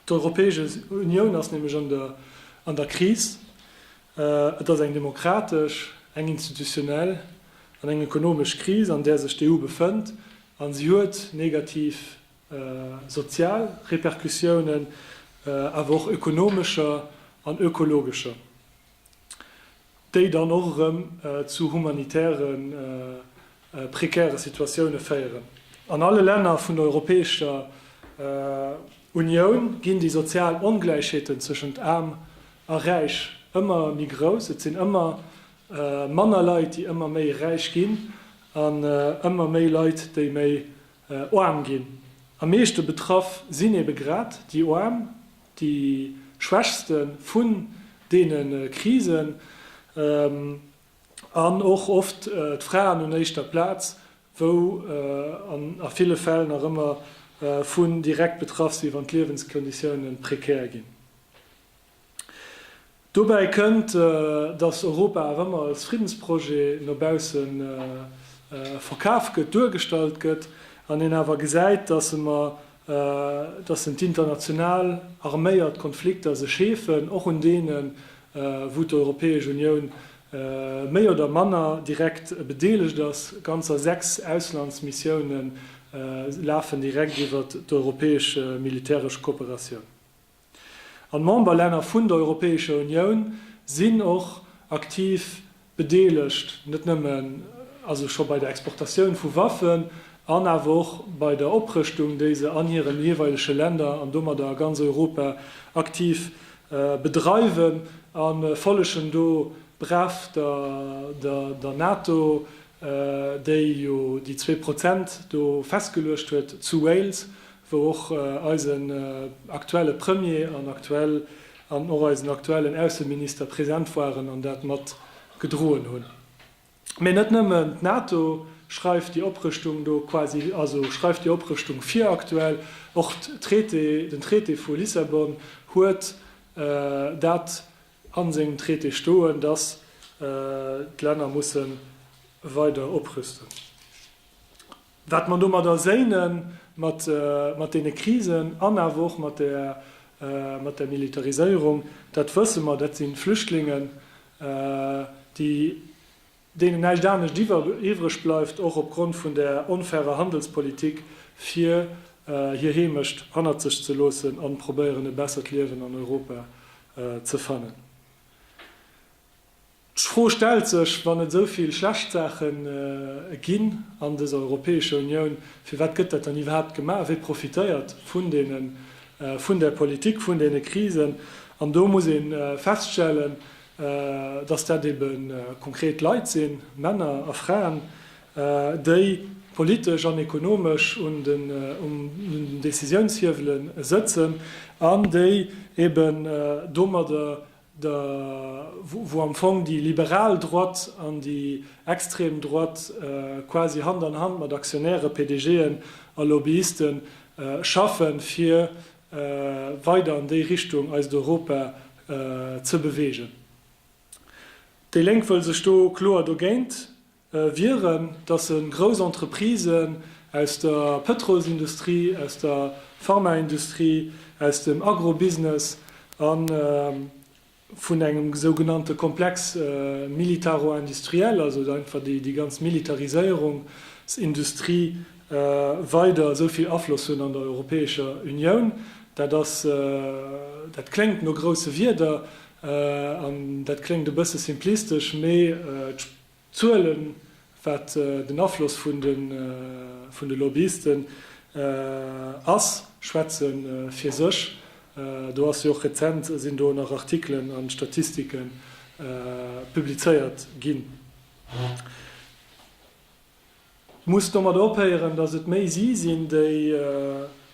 D'Europäesch Unioun ass nämlech an der Kris. Et ass eng demokratesch, eng institutionell an eng ekonomesch Kris, an där sech d'EU befënnt, a si huet negativ sozial Repercussiounen, awer och ökonomescher an ökologescher. déi dann och erëm zu humanitäre prekäre Situatioune féieren. An alle Länner vun der Europäescher Unioun ginn déi sozial Ongläichheeten tëschent Aarm a Räich ëmmer méi grouss. Et sinn ëmmer manner Leit, déi ëmmer méi räich ginn, an ëmmer méi Leit, déi méi Oarm ginn. Am meeschte betraff sinn ebe grad déi Oarm, déi Schwächste vun deene Krisen, an och oft d'Fraen un éischter Plaz, wou a ville Fäll nach ëmmer vun direkt betraff si wann d'Liewenskonditioune prekär ginn. Dobäi kënnt, datt Europa awer ëmmer als Friddensprojet no bausse verkaf gëtt, duergestallt gëtt, an een awer gesäit, datt emer, datt en d'international arméiert Konflikter sech heefen, och un deenen, wou d'Europäesch Unioun méi oder manner direkt bedeelegt ass. Ganzer sechs Auslandsmissioune lafen direkt iwwert d'europäesch militäresch Kooperatioun. An d'Memberlänner vun der Europäescher Unioun sinn och aktiv bedeelegt, net nëmmen also scho bei der Exportatioun vu Waffen an awer och bei der Oprëschtung, déi se an hiren jeeweilege Länner an domadder a ganz Europa aktiv bedreiwen, a follegen do brav der NATO, déi jo déi zwee Prozent do festgeluecht huet zu Wales, wou och eisen aktuelle Premier an aktuell an och eisen aktuellen Ausseminister present waren an dat mat gedroen hunn. Mee net nëmmen d'NATO schreift déi Oprëschtung do quasi, also schreift déi Oprëschtung vir aktuell, och d'Traité, den Traité vu Lissabon huet dat a sengem Traité stoen, dass d'Länner musse weider oprüsten. Wat mer domadder séinen, mat deene Krisen an awer och mat där Militariséierung, dat wësse mer. Dat si Flüchtlingen, déi, deenen näischt anescht iwwreg bleift, och opgrond vun där onfairer Handelspolitik, fir hir Heemecht hannert sech ze loossen a probéieren e bessert Liewen an Europa ze fannen. D'Fro stellt sech, Wann et esou vill schlecht Saache ginn an dëser Europäescher Unioun, firwat gëtt dat dann iwwerhaapt gemaach? Wie profitéiert vun deene, vun där Politik, vun deene Krisen? An do muss ee feststellen, datt dat ebe konkret Leit sinn, Männer a Fraen, déi politesch an ekonomesch un den Décisiounshiewele sëtzen an déi eben domadder de wou am Fong déi liberal Droite an déi extrem Droite quasi Hand an Hand mat Aktionäre, PDGen a Lobbyiste schaffen, fir weider an déi Richtung eist Europa ze beweegen. Déi Lénk wëll sech do kloer dogéint wieren, datt se grouss Entreprisen aus der Pëtrolsindustrie, aus der Pharmaindustrie, aus dem Agrobusiness a vun engem esou genannte Komplex militaro-industriel, also einfach déi ganz Militariséierungsindustrie, weider esou vill Afloss hunn an der Europäescher Unioun. Dat ass, dat kléngt no grousse Wierder an dat kléngt e bësse simplistesch, mee D'Zuelen, wat den Afloss vun de Lobbyisten ass, schwätze fir sech. Do ass jo och rezent sinn do nach Artikelen a Statistike publizéiert ginn. Et muss domat ophéieren, datt et méi si sinn, déi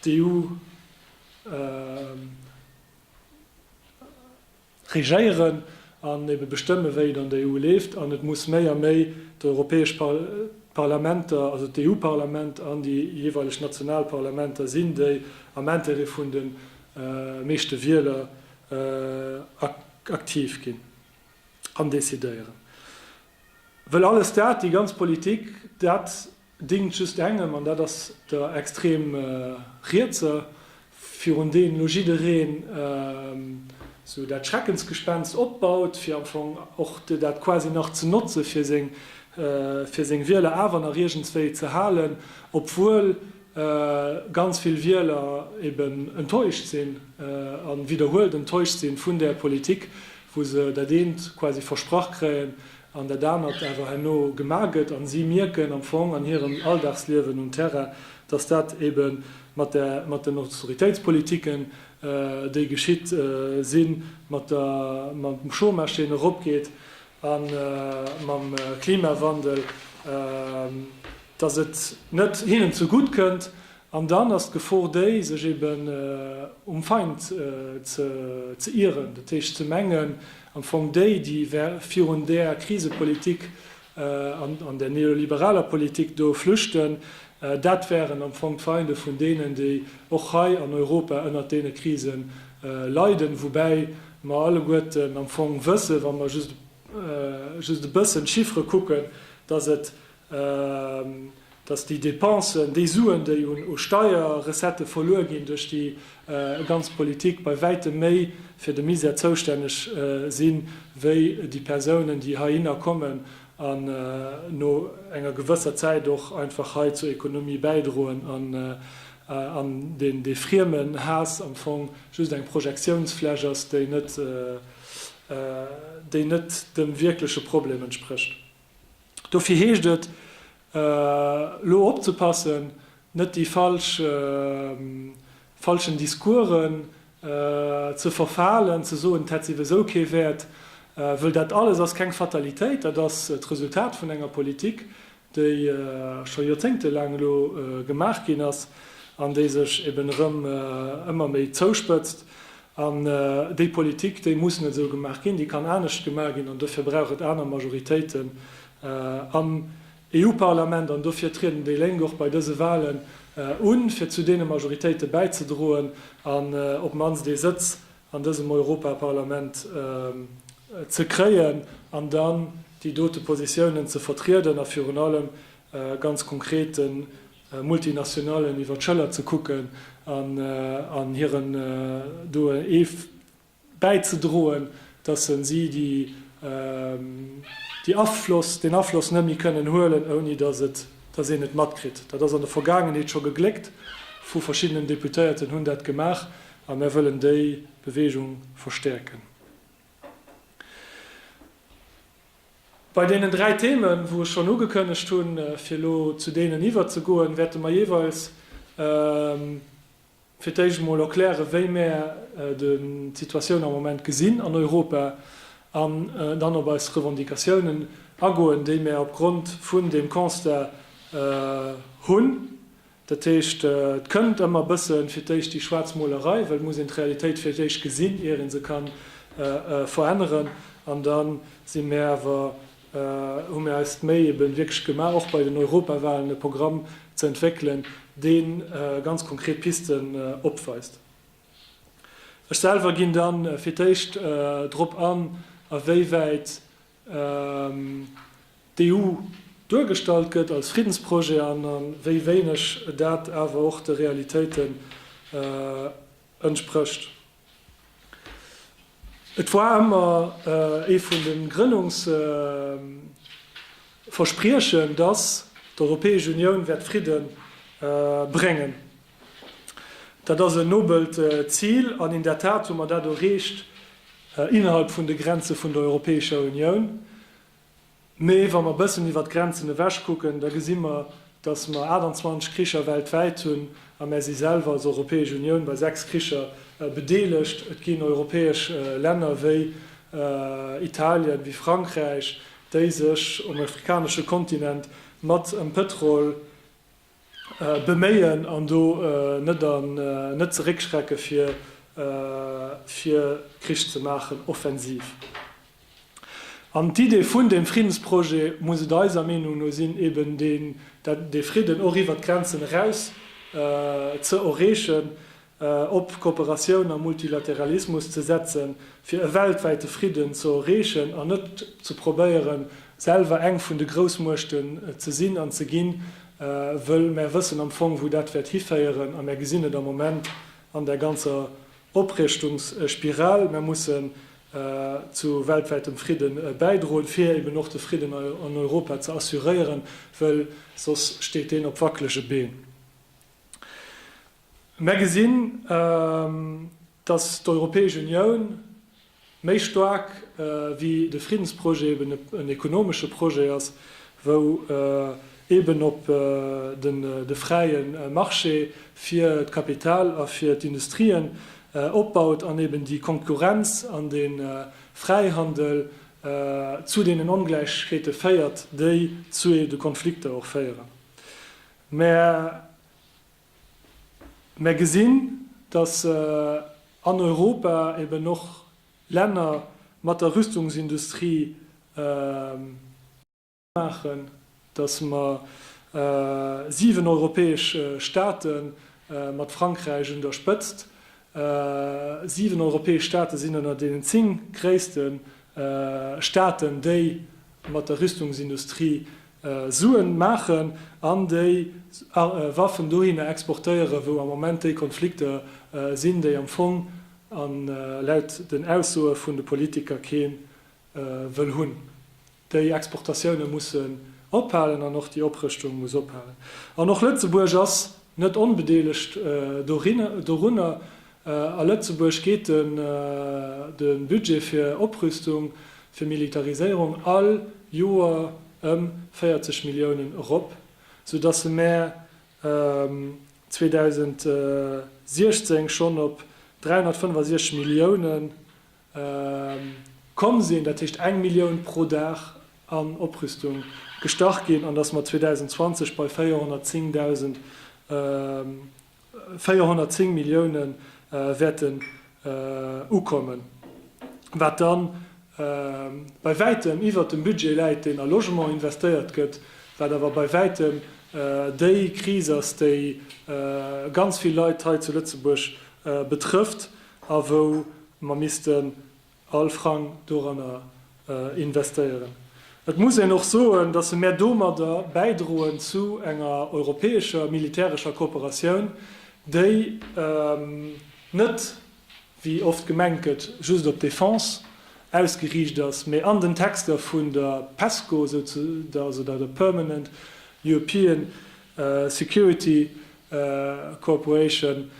d'EU. regéieren an ebe bestëmmen, wéi et an der EU leeft. An et muss méi a méi d'europäesch Parlamenter, also d'EU-Parlament an déi jeeweileg national Parlamenter sinn, déi am Intérêt vun de meeschte Wieler aktiv ginn an decidéieren. Well alles dat, déi ganz Politik, dat déngt just engem, an dat ass der extrem Rietser, virun deenen elo jiddereen esou dat Schreckensgespenst opbaut, fir am Fong och dat quasi nach ze notze fir seng Wieler awer nach iergendswéi ze halen, obwuel ganz vill Wieler eben enttäuscht sinn a widderhuelt enttäuscht si vun där Politik, wou se dat eent quasi versprach kréien an dat anert awer herno gemaach gëtt a si mierken am Fong an hirem Alldagsliewen um Terrain, dass dat ebe mat den Austeritéitspolitiken, déi geschitt sinn, mam Chômage, deen eropgeet, a mam Klimawandel, dass et net hinnen zegutt kënnt An dann ass d'Gefor déi, sech eben um Feind ze ieren, dat heescht ze mengen, am Fong déi, déi virun där Krisepolitik an där neoliberaler Politik do flüchten, dat wären am Fong d'Feinde vun deenen, déi och hei an Europa ënnert deene Krise leiden, woubäi mer alleguerten am Fong wëssen, wa mer just e bëssen d'Chiffre kucken, dass et dass déi Dépensen, déi Suen, déi un Steierrecettë verluer ginn duerch déi ganz Politik, bei wäitem méi fir de Misär zoustänneg sinn, wéi déi Persounen, déi heihinner kommen an no enger gewësser Zäit och einfach hei zur Économie bäidroen an dee Friemenhaass am Fong just eng Projektiounsfläch ass, déi net dem wierkleche Problem entsprécht. Dofir heescht et elo opzepassen, net déi falsch falschen Discoursen ze verfalen, ze soen, et hätt souwisou kee Wäert, wëll dat alles ass keng Fatalitéit, dat ass d'Resultat vun enger Politik, déi scho joerzéngtelaang elo gemaach ginn ass an déi sech eben erëm ëmmer méi zouspëtzt. An déi Politik, déi muss net esou gemaach ginn, déi kann anescht gemaach ginn. An dofir brauch et aner Majoritéiten am EU-Parlament. An dofir trieden déi Lénk och bei dëse Wahlen un, fir zu deene Majoritéite bäizedroen an op d'mannst ee Sëtz an dësem Europaparlament ze kréien an dann déi dote Positiounen ze vertrieden a virun allem ganz konkret den Multinationalen iwwer d'Schëller ze kucken an an hiren do ee bäizedroen, dass se si déi déi Afloss deen Afloss net méi kënnen huelen, ouni dass et dass een et matkritt. Dat ass an der Vergaangenheet scho gegléckt vu verschiddenen Deputéierten hunn dat gemaach a mär wëllen déi Beweegung verstäerken. Bei deenen dräi Themen, wou ech schonn ugekënnegt hunn, fir elo zu deenen iwwerzegoen, wäerte mer jeeweils fir d'éischt emol erklären, wéi mär d'Situatioun am Moment gesinn an Europa an dann op eis Revendicatiounen agoen, déi mär opgrond vun deem Constat hunn. Dat heescht, et kënnt ëmmer e bësse fir d'éischt déi schwaarz Molerei, well et muss een d'Realitéit fir d'éischt gesinn, ier ee se ka veränneren. An da si mär awer, hu mär eis d'Méi ebe wierklech gemaach, och bei den Europawahlen e Programm ze entwéckelen, dee ganz konkret Pisten opweist. Ech selwer ginn da fir d'éischt drop an, awéiwäit d'EU duergestallt gëtt als Friddensprojet an wéi wéineg dat awer och de Realitéiten entsprécht. Et war ëmmer ee vun de Grënnungsverspriechen, datt d'Europäesch Unioun wäert Fridde bréngen. Dat ass en nobelt Zil an in der Tat hu mer dat erreecht innerhalb vun de Grenze vun der Europäescher Unioun. Mee wa mer e bëssen iwwert d'Grenzen ewech kucken, da gesi mer, dass mer 28 Kricher weltwäit hunn a mär si selwer als Europäesch Unioun bei sechs Kricher bedeelegt. Et ginn europäesch Länner wéi Italien, wéi Frankräich, déi sech um afrikanesche Kontinent mat ëm Pëtrol, beméien an do net zeréckschrecke fir Krich ze maachen, offensiv. An d'Idee vun deem Friddensprojet muss et eiser Meenung no sinn, eben dee Fridden och iwwert d'Grenzen eraus ze erreechen, op Kooperatioun a Multilateralismus ze setzen, fir e weltwäite Fridden ze erreechen an net ze probéieren, selwer eng vun de Groussmuechten ze sinn an ze ginn, wëll mär wëssen am Fong, wou dat wäert hiféieren a mär gesinn et am Moment an där ganzer Oprieschtungsspiral. Mär mussen zu weltwäitem Fridde bäidroen, fir eben och de Fridden an Europa ze assuréieren, wëll soss steet deen op wackelege Been. Mär gesinn, datt d'Europäesch Unioun méi staark wéi de Friddensprojet eben en ekonomesche Projet ass, wou eben op de fräie Marché fir d'Kapital a fir d'Industrien opbaut an eben déi Konkurrenz an de Fräihandel zu deenen Ongläichheete féiert, déi zu de Konflikter och féieren. Mär Mer gesinn, dass an Europa eben och Länner mat der Rüstungsindustrie maachen, dass mer siwen europäesch Staate mat Frankräich un der Spëtzt, siwen europäesch Staate sinn ënner deenen zéng gréisste Staaten, déi mat der Rüstungsindustrie Suen maachen an déi Waffen dohinner exportéieren, wou am Moment déi Konflikter sinn, déi am Fong a laut den Aussoe vun de Politiker kee wëll hunn. Déi Exportatioune mussen ophalen an och déi Oprëschtung muss ophalen. An och Lëtzebuerg ass net onbedeelegt dorunner. A Lëtzebuerg geet de Budget fir Oprüstung, fir Militariséierung all Joer ëm 40 Milliounen erop, sou datt e mär 2016 schonn op 365 Millioune komm sinn, dat heescht eng Millioun pro Dag an Oprüstung gestach ginn, an datt mer 2020 bei 410.000 410 Millioune wäerten ukommen, wat da bei wäitem iwwert dem Budget läit, deen a Logement investéiert gëtt, wat awer bei wäitem déi Kris ass, déi ganz vill Leit hei zu Lëtzebuerg betrëfft a wou mer misste All Frang doranner investéieren. Et muss een och soen, datt mär domadder bäidroen zu enger europäescher militärescher Kooperatioun, déi net, wéi oft gemengt gëtt, just op d'Defense ausgeriicht ass, mee an den Texter vun der Pesco, also der Permanent European Security Cooperation,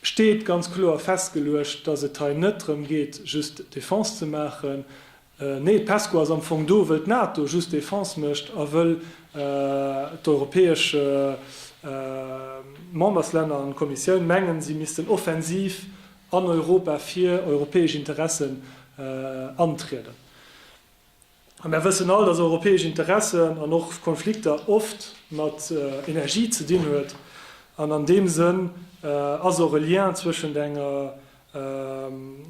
steet ganz kloer festgeluecht, dass et hei net drëm geet, just Defense ze maachen. Nee, d'Pesco ass am Fong do, wëll d'NATO just Defense mécht a wëll d'europäesch Memberslänner an d'Kommissioun mengen, si missten offensiv an Europa fir europäesch Interessen antrieden. A mär wëssen all, dass europäesch Interessen an och Konflikter oft mat Energie ze dinn huet. An an deem Sënn ass och e Lien zwëschent enger,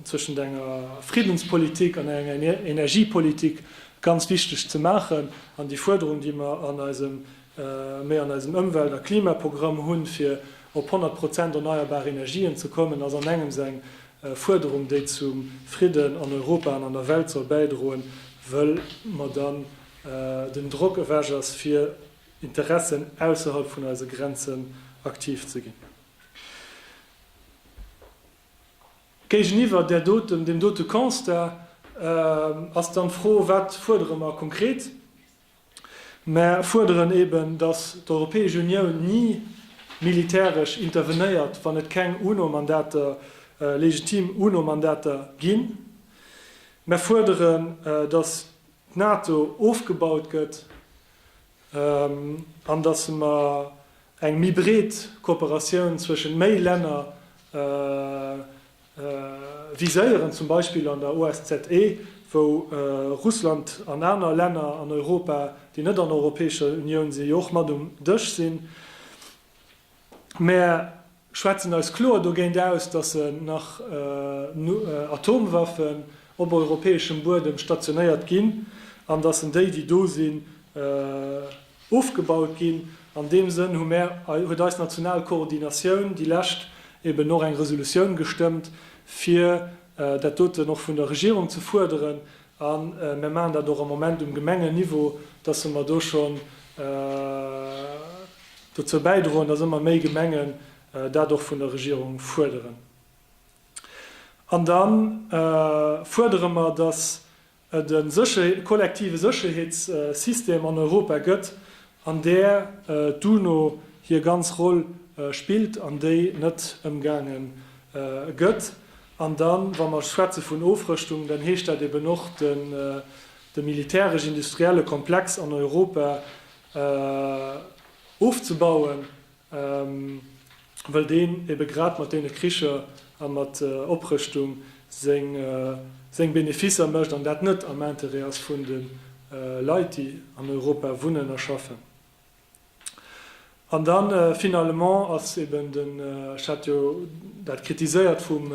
zwëschent enger Friddenspolitik an enger Energiepolitik ganz wichteg ze maachen. An déi Fuerderung, déi mer an eisem, méi an eisem Ëmwelt a Klimaprogramm hunn, fir op 100 Prozent erneierbar Energien ze kommen, ass an engems eng Fuerderung, déi zum Fridden an Europa an an der Welt soll bäidroen, wëll mer dann den Drock ewech ass, fir Interessen ausserhalb vun eise Grenzen aktiv ze ginn. Géigeniwwer där doten, deem dote Constat ass dann d'Fro, Wat fuerdere mer konkret? Mer fuerderen eben, dass d'Europäesch Unioun ni militäresch intervenéiert, wann et keng UNO-Mandater, legitim UNO-Mandater ginn. Mer fuerderen, dass d'NATO ofgebaut gëtt an dass mer eng méi breet Kooperatioun zwëschent méi Länner, viséieren, zum Beispill an der OSZE, wou Russland an aner Länner an Europa, déi net an der Europäescher Unioun sinn, jo och mat um Dësch sinn. Mer schwätzen eis kloer dogéint aus, dass se nach Atomwaffen op europäeschem Buedem stationéiert ginn an dass en déi, déi do sinn, Ofgebaut ginn. An deem Sënn hu mär, huet eis national Koordinatioun déi lescht eben och eng Resolutioun gestëmmt, fir dat doten och vun der Regierung ze fuerderen. A mär maachen dat och am Moment um Gemengenniveau, dass se mer do schonn dozou bäidroen, dass ëmmer méi Gemengen dat och vun der Regierung fuerderen. An da fuerdere mer, dass et e kollektive Sécherheetssystem an Europa gëtt, an där d'UNO hir ganz Roll spillt an déi net ëmgaange gëtt. An da wa mer schwätze vun Ofrëschtung, dann heescht dat eben och de militäresch-industrielle Komplex an Europa ofzebauen. wëll deen ebe grad mat deene Kricher a mat Oprëschtung seng Beneficer mécht an dat net am Intérêt ass vun de Leit, déi an Europa wunnen a schaffen. An da finalement ass eben den, ech hat jo dat kritiséiert vum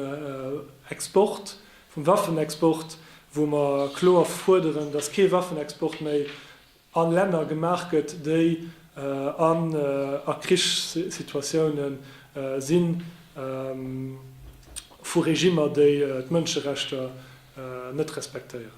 Export, vum Waffenexport, wou mer kloer fuerderen, dass kee Waffenexport méi a Länner gemaach gëtt, déi an a Krichssituatioune sinn, vu Regimmer, déi d'Mënscherechter net respektéieren.